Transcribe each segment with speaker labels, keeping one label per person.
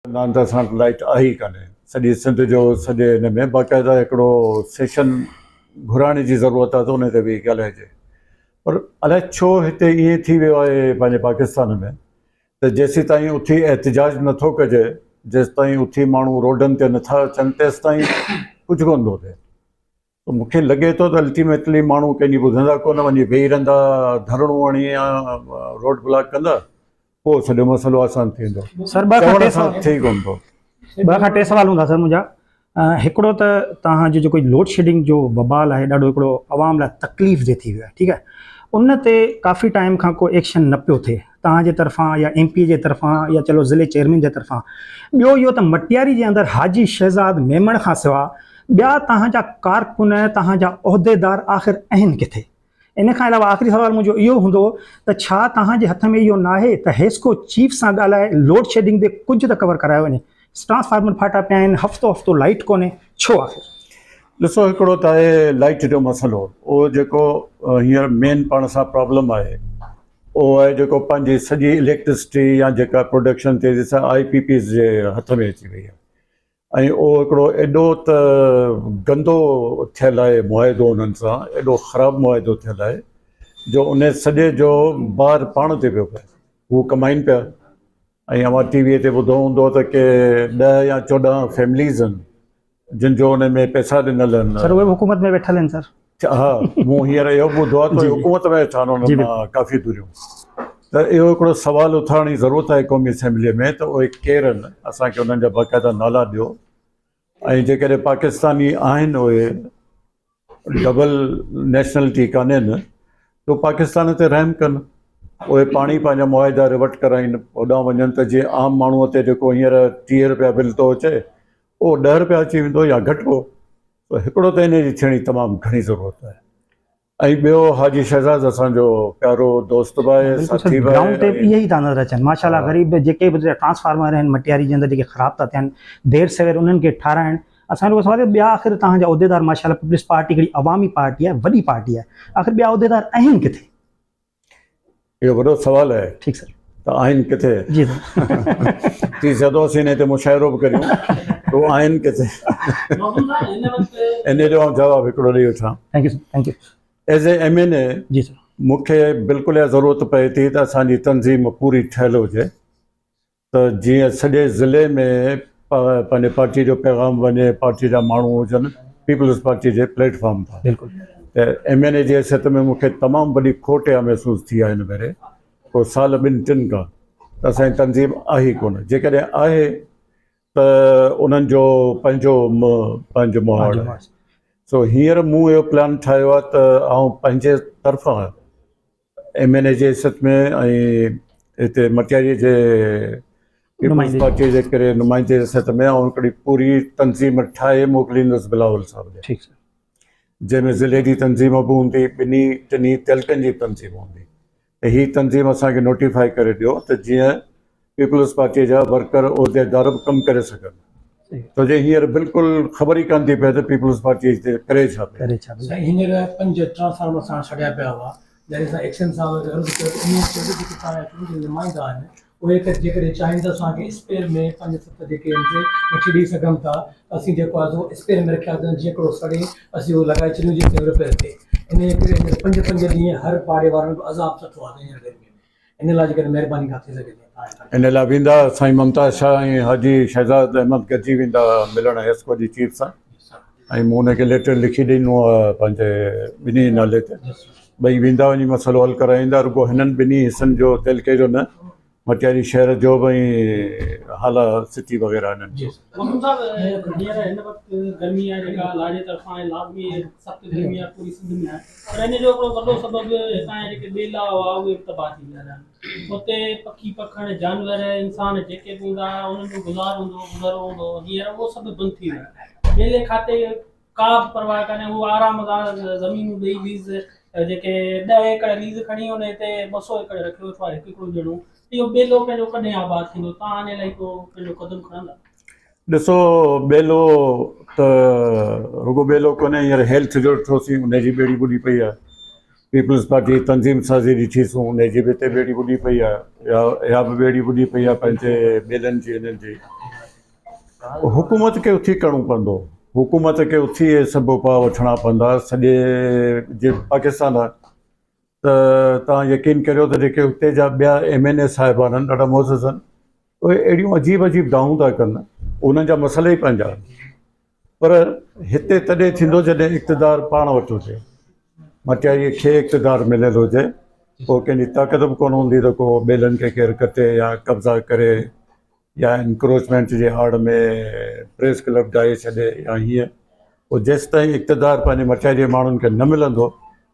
Speaker 1: ناند سان لائيٽ آهي ئي ڪانهي سڄي سنڌ جو سڄي هن ۾ باقاعده هڪڙو سيشن گهرائڻ جي ضرورت آهي ته ان تي ويهي ڳالهائجي پر الائي ڇو هتي ائين ٿي ويو آهي پنهنجي پاڪستان ۾ ته جيسيتائين اٿي احتجاج نٿو ڪجي جيسيتائين اٿي ماڻهو روڊن تي نٿا اچن تيسيتائين ڪجهه ڪونه ٿو ٿئي ته مون کي لڳي ٿو ته الٽيميٽلي ماڻهو ڪنهن جي ٻڌندا ڪونه وڃي ويهي رهندا ڌرڻو هڻي يا روڊ بلاڪ ڪندا پوء سڄو مسئلو آسان ٿي ويندو سر ٻه کان ٽي سوال ٿي
Speaker 2: ڪونه
Speaker 1: ٿو ٻه کان ٽي سوال
Speaker 2: هوندا سر منهنجا هڪڙو ته توهان جو جيڪو لوڊ شيڊنگ جو ببال آهي ڏاڍو هڪڙو عوام لاء تڪليف دي ٿي ويو آهي ٺيڪ آهي ان تي ڪافي ٽائيم کان ڪو ايڪشن نه پيو ٿئي توهان جي طرفان يا ايم پي جي طرفان يا چلو ضلعي چيئرمين جي طرفان ٻيو اهو ته مٽياري جي اندر حاجي شهزاد ميمڻ کان سوا ٻيا توهان جا ڪارڪن توهان جا عهديدار آخر اهن ڪٿي؟ ان کان علاوه آخري سوال منهنجو اهو هوندو ته ڇا توهان جي هٿ ۾ اهو ناهي ته حيسڪو چيف سان ڳالهائي لوڊ شيڊنگ به ڪجهه ته ڪور ڪرايو وڃي؟ ٽرانسفارمر ڦاٽا پيا آهن هفتو هفتو لائيٽ ڪونهي ڇو آخر؟ ڏسو هڪڙو
Speaker 1: ته آهي لائيٽ جو مسئلو اهو جيڪو هينئر مين پاڻ سان پرابلم آهي اهو آهي جيڪو پنهنجي سڄي اليڪٽرسٽي يا جيڪا پروڊڪشن تيزي سان آئي پي پيز جي هٿ ۾ اچي وئي آهي ۽ اهو هڪڙو ايڏو ته گندو ٿيل آهي معاهدو انهن سان ايڏو خراب معاهدو ٿيل آهي جو ان سڄي جو بار پاڻ تي پيو پئي هو ڪمائن پيا ۽ اوهان ٽي وي تي ٻڌو هوندو ته ڪي ڏهه يا چوڏهن فيمليز آهن جن جو انهي ۾ پئسا ڏنل آهن. سر اهي به حڪومت ۾ ويٺل آهن
Speaker 2: سر. اچا ها مون هينئر
Speaker 1: اهو به ٻڌو آهي ته اهي حڪومت ۾ ويٺا آهن انهن مان ڪافي دوريون ته اهو هڪڙو سوال اٿارڻ جي ضرورت آهي قومي اسيمبلي ۾ ته اهي ڪير آهن اسان کي انهن جا باقاعده نالا ڏيو ۽ جيڪڏهن پاڪستاني آهن اهي ڊبل نيشنلٽي ڪانهي نه تو پاڪستان تي رحم ڪن اهي پاڻ ئي پنهنجا معاهدا ريوٽ ڪرائين هوڏانهن وڃن ته جيئن عام ماڻهو تي جيڪو هينئر ٽيهه رپيا بل ٿو اچي اهو ڏهه رپيا اچي ويندو يا گهٽبو ته هڪڙو ته ان جي ٿيڻي تمام گهڻي ضرورت آهي ۽ ٻيو حاجي شهزاد اسان جو پيارو دوست به آهي ساٿي به آهي ۽ اهي ئي ٿا نظر
Speaker 2: اچن
Speaker 1: ماشاءالله
Speaker 2: غريب جيڪي به ٽرانسفارمر آهن مٽياري جي اندر جيڪي خراب ٿا ٿين دير سوير انهن کي ٺاهرائڻ اسان جو سوال آهي ٻيا آخر توهان جا عهديدار ماشاء الله پيپلز پارٽي ڪهڙي عوامي پارٽي آهي وڏي پارٽي آهي آخر ٻيا عهديدار آهن ڪٿي؟
Speaker 1: اهو وڏو سوال آهي. ٺيڪ سر. ته آهن
Speaker 2: ڪٿي؟
Speaker 1: جي سر. ٿي سگهندو اسين انهي تي مشاعرو به ڪريون ته آهن ڪٿي؟ مخدوم صاحب هن وقت. انهي جو آئون جواب هڪڙو ڏئي وٺان. Thank
Speaker 2: you sir thank you. As a M N
Speaker 1: A. جي سر. مون
Speaker 2: کي بلڪل
Speaker 1: اها ضرورت پئي ٿي ته اسان جي تنظيم پوري ٺهيل هجي. ته جيئن سڄي ضلعي ۾ پنهنجي پارٽي جو پيغام وڃي، پارٽي جا ماڻهو هجن پيپلز پارٽي جي پليٽ فارم تان ته
Speaker 2: ايم اين اي جي
Speaker 1: حيثيت ۾ مون کي تمام وڏي کوٽ اها محسوس ٿي آهي هن ڀيري ڪو سال ٻن ٽن کان ته اسان جي تنظيم آهي ئي ڪونه جيڪڏهن آهي ته انهن جو پنهنجو پنهنجو مهاڙ آهي سو هينئر مون اهو پلان ٺاهيو آهي ته آئون پنهنجي طرفان ايم اين اي جي سٿ ۾ ۽ هتي مٽياريء جي پيپلز پارٽيء جي ڪري نمائندي جي سٿ ۾ آئون هڪڙي پوري تنظيم ٺاهي موڪليندس بلاول صاحب ڏي. ٺيڪ سر.
Speaker 2: جنهن ۾
Speaker 1: ضلعي جي تنظيم به هوندي، ٻنهي ٽنهي تعلقن جي به تنظيم هوندي ۽ هي تنظيم اسان کي نوٽيفائي ڪري ڏيو ته جيئن پيپلز پارٽيء جا ورڪر عهديدار به ڪم ڪري سگهن ڇو جو هينئر بلڪل خبر ئي ڪانه ٿي پئي ته پيپلز پارٽيء هتي ڪري ڇا پئي. سائين هينئر پنج
Speaker 3: ٽرانسفارمر ساڻ سڙيا پيا هئا جڏهن اسان ايڪس ايم صاحب کي عرض ڪيو ته انهن چيو ته جيڪي تهان جا چونڊيل نمائندا آهن اهي ته جيڪڏهن چاهين ته اسان کي اسپير ۾ پنج ست جيڪي ايم سي وٺي ڏئي سگهن ٿا ته اسين جيڪو آهي سو اسپير ۾ رکياسين ته جيئن ڪهڙو سڙي اسين اهو لڳائي ڇڏيون جي سيم رپير ٿئي انهيء ڪري هينئر پنج پنج ڏينهن هر پاڙي وارن به عذاب سٺو آهي سائين هينئر گرميء ۾ ان لاء جيڪڏهن مهرباني ڪا ٿي سگهي ته آء هر. ان لاء ويندا سائين
Speaker 1: ممتاز شاهه ۽ حاجي شهزاد احمد گڏجي ويندا ملڻ حيسڪو جي چيف سان ۽ مون انهن کي ليٽر لکي ڏنو آهي پنهنجي ٻنهي جي نالي تي ٻئي ويندا وڃي مسئلو حل ڪرائي ايندا رڳو هنن ٻنهي حصن جو تعلقي جو نه مٽياري شهر جو به ۽ هالا سٽي وغيره هنن جو. مخدوم صاحب هينئر
Speaker 4: هن وقت گرمي آهي جيڪا لاڙي طرفان آهي لازمي سخت گرمي آهي پوري سنڌ ۾ آهي پر ان جو هڪڙو وڏو سبب هتان جا جيڪي ٻيلا هئا اهي به تباهه ٿي ويا رهيا. اتي پکي پکڻ، جانور، انسان جيڪي به هوندا هئا انهن جو گذار هوندو هو، گذرو هوندو هو، هينئر اهو سڀ به بند ٿي ويو آهي. ٻيلي کاتي ڪا به پرواهه ڪانهي، هو آرام سان زمينون ڏئي ليز جيڪي ڏهه ايڪڙ ليز کڻي انهي تي ٻه سؤ ايڪڙ رکي ويٺو آهي هڪ هڪڙو ڄڻو اهو ٻيلو پنهنجو ڪڏهن آباد ٿيندو؟ توهان ان لاء ڪو پنهنجو قدم کڻندا؟ ڏسو
Speaker 1: ٻيلو ته رڳو ٻيلو ڪونهي هينئر هيلٿ جو ڏٺوسين ان جي ٻيڙي ٻڏي پئي آهي پيپلز پارٽي تنظيم سازي ڏٺي سون ان جي به اتي ٻيڙي ٻڏي پئي آهي يا اها به ٻيڙي ٻڏي پئي آهي پنهنجي ٻيلن جي انهن جي حڪومت کي اٿي ڪرڻو پوندو حڪومت کي اٿي اهي سڀ اپاء وٺڻا پوندا سڄي جي پاڪستان ته توهان يقين ڪريو ته جيڪي اتي جا ٻيا ايم اين اي صاحبان آهن ڏاڍا معزز آهن اهي اهڙيون عجيب عجيب دانهون ٿا ڪن انهن جا مسئلا ئي پنهنجا آهن پر هتي تڏهن ٿيندو جڏهن اقتدار پاڻ وٽ هجي مٽياريء کي اقتدار مليل هجي پوء ڪنهن جي طاقت به ڪونه هوندي ته ڪو ٻيلن کي ڪير ڪٽي يا قبضا ڪري يا انڪروچمينٽ جي آڙ ۾ پريس ڪلب ڊاهي ڇڏي يا هيئن پوء جيستائين اقتدار پنهنجي مٺيء جي ماڻهن کي نه ملندو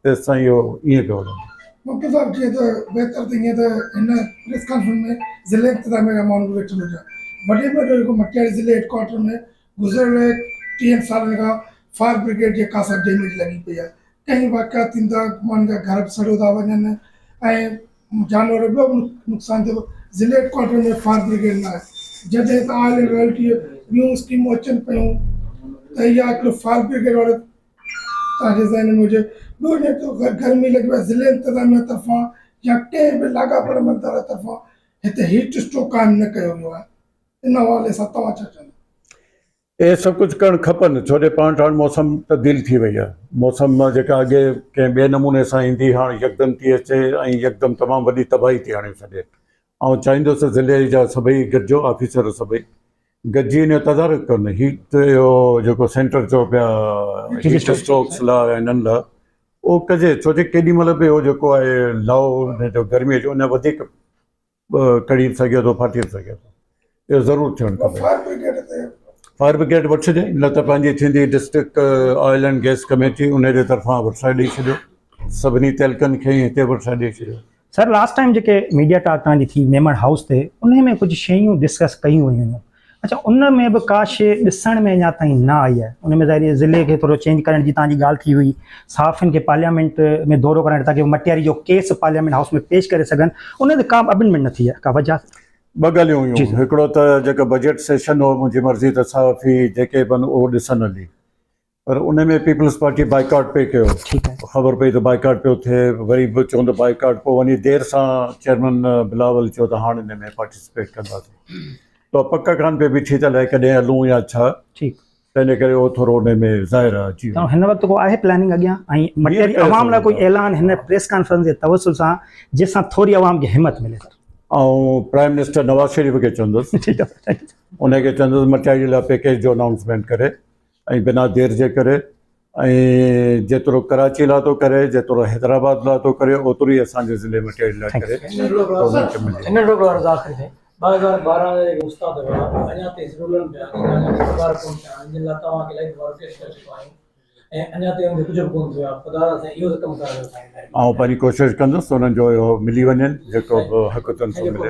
Speaker 1: تيستائين اهو ائين پيو هلندو. مڪي صاحب چئي ته
Speaker 5: بهتر ته ائين ته هن پريس ڪانفرنس ۾ ضلعي انتظاميه جا ماڻهو به ويٺل هجن. وڏي ۾ وڏو جيڪو مٽياري ضلعي هيڊ ڪوارٽر ۾ گذريل ٽيهن سالن کان فائر برگيڊ جي خاصا ڊيميج لڳي پئي آهي ڪئين واقعا ٿيندا ماڻهن جا گهر به سڙيو ٿا وڃن ۽ جانور ٻيو به نقصان ٿيو ضلع هيڊڪوارٽر ۾ فائر برگيڊ نه آهي جڏهن ته آل اينڊ ريل ٽي ٻيون اسڪيمون اچن پيون ته اها هڪڙو فائر برگيڊ وارو تان جي ذهن ۾ هجي ٻيو جي تو گرمي لڳي وئي ضلع انتظاميه طرفان يا ڪنهن به لاڳاپيل عملدار طرفان هتي هيٽ اسٽو قائم نه ڪيو ويو آهي ان حوالي سان توهان ڇا چوندا؟ اهي
Speaker 1: سڀ ڪجهه ڪرڻ کپن ڇو جو پاڻ هاڻ موسم تبديل ٿي وئي آهي موسم مان جيڪا اڳي ڪنهن ٻئي نموني سان ايندي هاڻ يڪدم ٿي اچي ۽ يڪدم تمام وڏي تباهي ٿي آڻي ڇڏي آئون چاهيندس ته ضلعي جا سڀئي گڏجو آفيسر سڀئي گڏجي ان جو تدارڪ ڪن هيت اهو جيڪو سينٽر چئو پيا هيٽ اسٽروڪس لا انهن لا اهو ڪجي ڇو جو ڪيڏي مهل به اهو جيڪو آهي لاء جو گرمي جو ان وڌيڪ ڪڙي به سگهي ٿو ڦاٽي به سگهي ٿو اهو ضرور ٿيڻ کپي فائر برگيڊ تي فائر برگيڊ وٺ ڇڏي نه ته پنهنجي ٿيندي district oil and gas committee ان جي طرفان ورسائي ڏئي ڇڏيو سڀني تعلقن کي هتي ورسائي ڏئي ڇڏيو سر لاسٽ ٽائيم جيڪي
Speaker 2: ميڊيا ٽاڪ تهان جي ٿي ميمڻ هائوس تي انهي ۾ ڪجهه شيون ڊسڪس ڪيون ويون هيون اچا ان ۾ به ڪا شيء ڏسڻ ۾ اڃا تائين نه آئي آهي. ان ۾ ظاهري ضلعي کي ٿورو چينج ڪرڻ جي توهان جي ڳالهه ٿي هئي. صحافين کي پارليامينٽ ۾ دورو ڪرائڻ تاڪه مٽياري جو ڪيس پارليامينٽ هائوس ۾ پيش ڪري سگهن ان تي ڪا به امينڊمينٽ نه ٿي آهي. ڪا وجهه آهي؟ ٻه ڳالهيون هيون.
Speaker 1: هڪڙو ته جيڪو بجيٽ سيشن هو منهنجي مرضي ته صحافي جيڪي به آهن اهو ڏسن هلي. پر ان ۾ پيپلز پارٽي بائيڪاٽ پئي ڪيو خبر پئي ته بائيڪاٽ پيو ٿئي وري به چون ته بائيڪاٽ پوء وڃي دير سان چيئرمن بلاول چيو ته هاڻ ان ۾ پارٽيسپيٽ ڪنداسين تو پڪ ڪان پئي بيٺي ته الائي ڪڏهن هلون يا ڇا ٺيڪ تنهن ڪري اهو ٿورو ان ۾ ظاهر آهي جي هن وقت ڪو آهي پلاننگ
Speaker 2: اڳيان ۽ مٽيري عوام لاء ڪوئي اعلان هن پريس ڪانفرنس جي توسل سان جنهن سان ٿوري عوام کي همت ملي سر آئون پرائم منسٽر نواز
Speaker 1: شريف کي چوندس ٺيڪ آهي ان کي چوندس مٽيري لاء پيڪيج جو انائونسمينٽ ڪري ۽ بنا دير جي ڪري ۽ جيترو ڪراچي لا ٿو ڪري جيترو حيدرآباد لا ٿو ڪري اوترو ئي اسان جي ضلعي ۾ ٽيڊ لا ڪري گورنمينٽ کي
Speaker 3: ملي ٿو. آئون پنهنجي ڪوشش
Speaker 1: ڪندس ته انهن جو اهو ملي وڃين جيڪو به حق تن سو ملي.